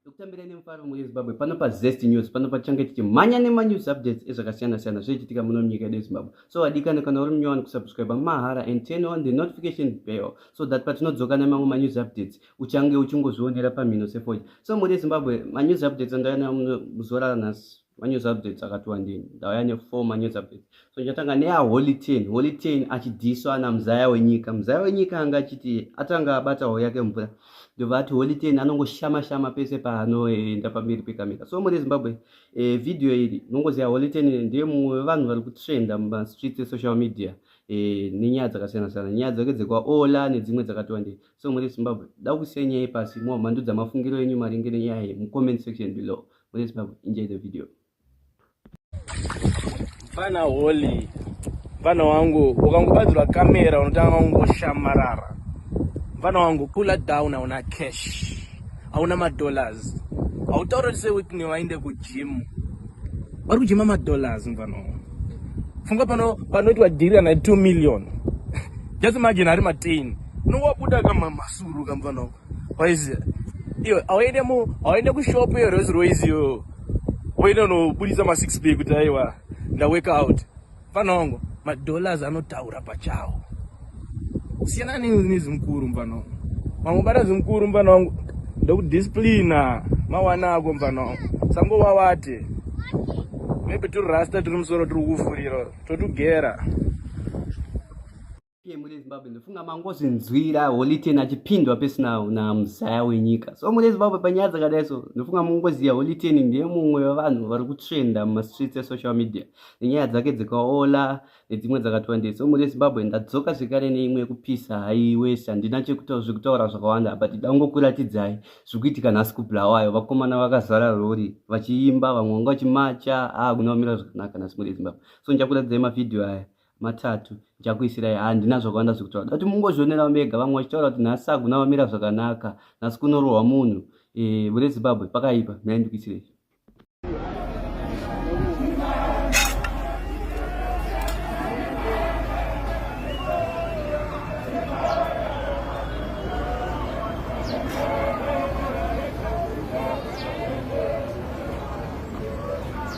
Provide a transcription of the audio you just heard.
Ndokutambira ine mufaro mune Zimbabwe pano pa Zest News pano pachange tichimhanya nema news updates ezvakasiyana siyana zvichiitika muno munyika yedu Zimbabwe. So wadikana kana uri munyowani kusubscribe mahara and turn on the notification bell so that patinodzoka nemamwe ma news updates uchange uchingozvionera pamhino sefoja. So muri Zimbabwe ma news updates andaya nayo muno muzorara nhasi. manews updates akati wandei ndauya nefour manews updates so ndichatanga neaholy ten holy ten achidhiswa ana muzaya wenyika muzaya wenyika anga achiti atanga abata hoo yake mvura ndobva ati holy ten anongoshama shama pese paanoenda pamberi pekamera so muri zimbabwe e, video iri nongoziva holy ten ndiye mumwe wevanhu vari kutrenda mumastreets esocial media e, nenyaya dzakasiyana siyana nyaya dzake dzekwaola nedzimwe dzakati wandei so muri zimbabwe da kusiya nyaya ipasi mova mandudza mafungiro enyu maringe nenyaya iyi mucomment section below Wait, Babu, enjoy the video. Mfana holy. Mfana wangu, ukangobadzirwa kamera unotanga kungoshamarara. Mfana wangu, pull it down hauna cash. Hauna madollars. Hautaura se witney waende kugym. Vari kujima madollars mfana wangu. Funga pano panoitwa dhiri kana 2 million. Just imagine ari matini. Unowabuda kama masuru kamfana wangu. Waizi iyo auende mu auende kushop iyo Rolls Royce iyo. Uende unobudisa ma 6 pack kuti aiwa nda work out. Mfana wangu ma dollars anotaura pachawo. Usiyana nezimukuru mfana wangu. Mamwe bara zimukuru mfana wangu ndokudisciplina mawana ako mfana wangu. Sango wawate. Maybe tiri rasta tiri musoro tiri kufurira totugera. pmuri yezimbabwe ndofunga mangozvinzwira holiten achipindwa pesina namuzaya wenyika so muri yezimbabwe panyaya dzakadai so ndofunga mungoziva holiten ndiye mumwe wevanhu vari kutrenda mumastreets esocial media nenyaya dzake dzikaola nedzimwe dzakatwandei so muri yezimbabwe ndadzoka zvekare neimwe yekupisa haiwese handina chekutaura zvekutaura zvakawanda but ida kungokuratidzai zviri kuitika nhasi kubulawayo vakomana vakazara rori vachiimba vamwe vanga vachimacha aa ah, kunovamira zvakanaka nhasi muri yezimbabwe so ndichakuratidzai mavhidhiyo aya matatu ndichakuisirai handina zvakawanda zvekutaura dati mungozvionerawo mega vamwe vachitaura kuti nhasi saguna vamira zvakanaka nhasi kunorohwa munhu eh, vure zimbabwe pakaipa nhai ndikuisirei